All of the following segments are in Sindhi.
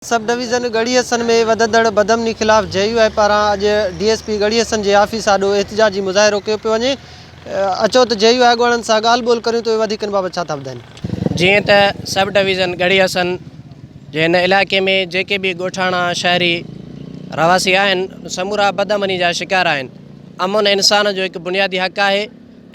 سب ڊويزن ڳڙهي حسن ۾ وڌندڙ بدامني خلاف جي يو آء پاران اڄ D S P Garhi Hassan جي آفيس آڏو احتجاجي مظاهرو ڪيو پيو وڃي اچو ته جي يو آء اڳواڻن سان ڳالهه ٻولهه ڪريون ته اهي وڌيڪ ان بابت ڇا ٿا ٻڌائين. جيئن ته سب ڊويزن ڳڙهي حسن جي هن علائقي ۾ جيڪي به ڳوٺاڻا شهري رهواسي آهن سمورا بدامني جا شڪار آهن امن انسان جو هڪ بنيادي حق آهي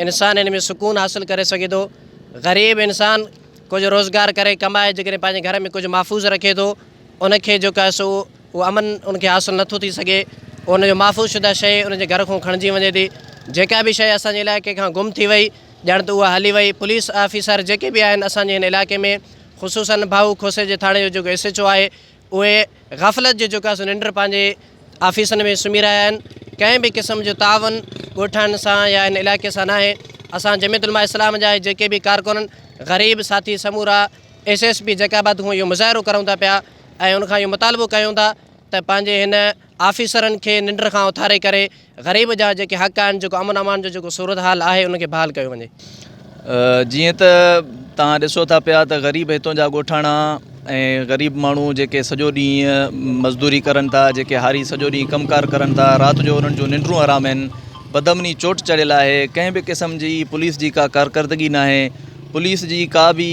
انسان ان ۾ سڪون حاصل ڪري سگهي ٿو غريب انسان ڪجهه روزگار ڪري ڪمائي جيڪڏهن پنهنجي گهر ۾ ڪجهه محفوظ رکي ٿو ان کي جيڪو آهي سو اهو امن ان کي حاصل نٿو ٿي سگهي پوء ان جو محفوظ شده شيء ان جي گهر کان کڻجي وڃي ٿي جيڪا به شيء اسانجي علائقي کان گم ٿي وئي ڄڻ ته اها هلي وئي پوليس آفيسر جيڪي به آهن اسانجي هن علائقي ۾ خصوصن ڀائو کوسي جي ٿاڻي جو جيڪو ايس ايڇ او آهي اهي غفلت جي جوڪا سو ننڊ پنهنجي آفيسن ۾ سمهي رهيا آهن ڪنهن به قسم جو تعاون ڳوٺاڻن سان يا ان علائقي سان ناهي اسان جميعت علماء اسلام جا ۽ جيڪي به ڪارڪنن غريب ساٿي سمورا S S P Jacobabad کان اهو مظاهرو ڪرون ٿا پيا ۽ ان کان اهو مطالبو ڪيون ٿا ته پنهنجي هن آفيسرن کي ننڊ کان اٿاري ڪري غريب جا جيڪي حق آهن جيڪو امن امان جو جيڪو صورتحال آهي ان کي بحال ڪيو وڃي. جيئن ته توهان ڏسو ٿا پيا ته غريب هتون جا ڳوٺاڻا ۽ غريب ماڻهو جيڪي سڄو ڏينهن مزدوري ڪرن ٿا جيڪي هاري سڄو ڏينهن ڪم ڪار ڪرن ٿا رات جو انهن جون ننڊون حرام آهن بدامني چوٽ چڙهيل آهي ڪنهن به قسم جي پوليس جي ڪا ڪارڪردگي ناهي پوليس جي ڪا به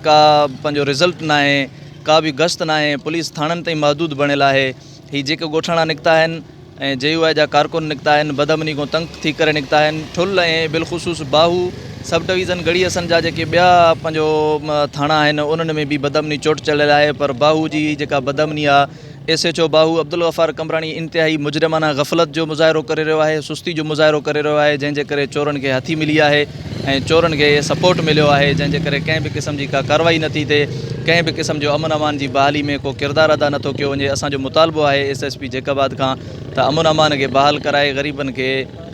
ڪا پنهنجو رزلٽ ناهي ڪا به گشت ناهي پوليس ٿاڻن تائين محدود بڻيل آهي هي جيڪي ڳوٺاڻا نڪتا آهن ۽ جي يو آء جا ڪارڪن نڪتا آهن بدامني کان تنگ ٿي ڪري نڪتا آهن ٺل ۽ بلخصوص باهو سب ڊويزن ڳڙهي حسن جا جيڪي ٻيا پنهنجو ٿاڻا آهن انهن ۾ به بدامني چوٽ چڙهيل آهي پر باهو جي جيڪا بدامني آ ايس ايڇ او باهو عبدالغفار قمبراڻي انتهائي مجرمانه غفلت جو مظاهرو ڪري رهيو آهي سستي جو مظاهرو ڪري رهيو آهي جنهن جي ڪري چورن کي هٿي ملي آهي ۽ چورن کي سپورٽ مليو آهي جنهن جي ڪري ڪنهن به قسم جي ڪا ڪاروائي نه ٿي ٿئي ڪنهن به قسم جو امن امان جي بحالي ۾ ڪو ڪردار ادا نه ٿو ڪيو وڃي اسان جو مطالبو آهي S S P Jacobabad کان ته امن امان کي بحال ڪرائي غريبن کي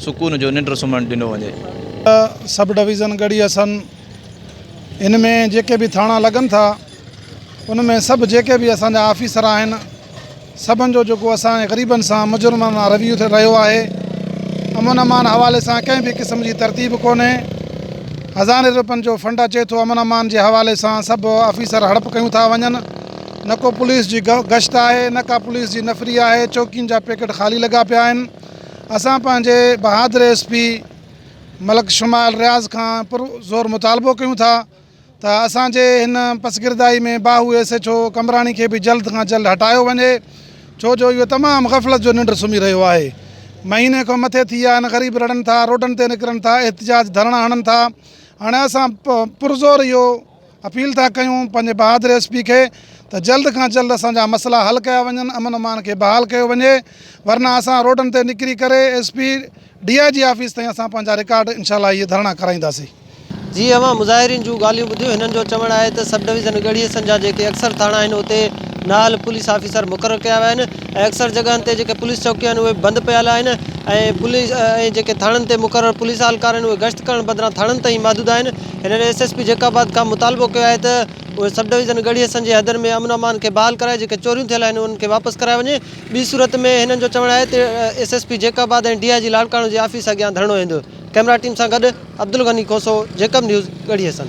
سڪون جو ننڊ سمهڻ ڏنو وڃي. سب ڊويزن ڳڙهي حسن ان ۾ جيڪي به ٿاڻا لڳن ٿا. ان ۾ سڀ جيڪي به اسان جا آفيسر آهن سڀن جو جيڪو اسان جي غريبن سان مجرمن وان رويو رهيو آهي امن امان حوالي سان ڪنهن به قسم جي ترتيب ڪونهي هزارين روپين جو فنڊ اچي ٿو امن امان جي حوالي سان سڀ آفيسر هڙپ ڪيون ٿا وڃن نه ڪو پوليس جي گشت آهي نه ڪا پوليس جي نفري آهي چوڪين جا پيڪيٽ خالي لڳا پيا آهن اسان پنهنجي بهادر ايس پي ملڪ شمائل رياض کان پر زور مطالبو ڪيون ٿا ته اسان جي هن پسگردائي ۾ باهو ايس ايڇ او قمبراڻي کي به جلد کان جلد هٽايو وڃي ڇو جو اهو تمام غفلت جو ننڊ سمهي رهيو آهي مهيني کان مٿي ٿي ويا آهن غريب رڙن ٿا روڊن تي نڪرن ٿا احتجاج ڌرڻا هڻن ٿا هاڻي اسان پرزور اهو اپيل ٿا ڪيون پنهنجي بهادر ايس پي کي ته جلد کان جلد اسان جا مسئلا حل ڪيا وڃن امن امان کي بحال ڪيو وڃي ورنه اسان روڊن تي نڪري ڪري S P D I G office تائين اسان پنهنجا رڪارڊ انشاء الله اهي ڌرڻا ڪرائينداسين. جي اوهان مظاهرين جون ڳالهيون ٻڌيون هنن جو چوڻ آهي ته سب ڊويزن ڳڙهي حصن جا جيڪي اڪثر ٿاڻا آهن اتي نااهل پوليس آفيسر مقرر ڪيا ويا آهن ۽ اڪثر جڳهن تي جيڪي پوليس چوڪيون آهن اهي بند پيل آهن ۽ پوليس ۽ جيڪي ٿاڻن تي مقرر پوليس اهلڪار آهن اهي گشت ڪرڻ بدران ٿاڻن تائين محدود آهن هنن S S P Jacobabad کان مطالبو ڪيو آهي ته اهي سب ڊويزن ڳڙهي حصن جي حدن ۾ امن امان کي بحال ڪرائي جيڪي چوريون ٿيل آهن انهن کي واپس ڪرايو وڃي ٻي صورت ۾ هنن جو چوڻ آهي ته S S P Jacobabad ۽ D I G Larkana جي آفيس اڳيان ڌرڻو هيندو. ڪئميرا ٽيم سان گڏ عبدالغني کوسو، جيڪب نيوز، ڳڙهي حسن.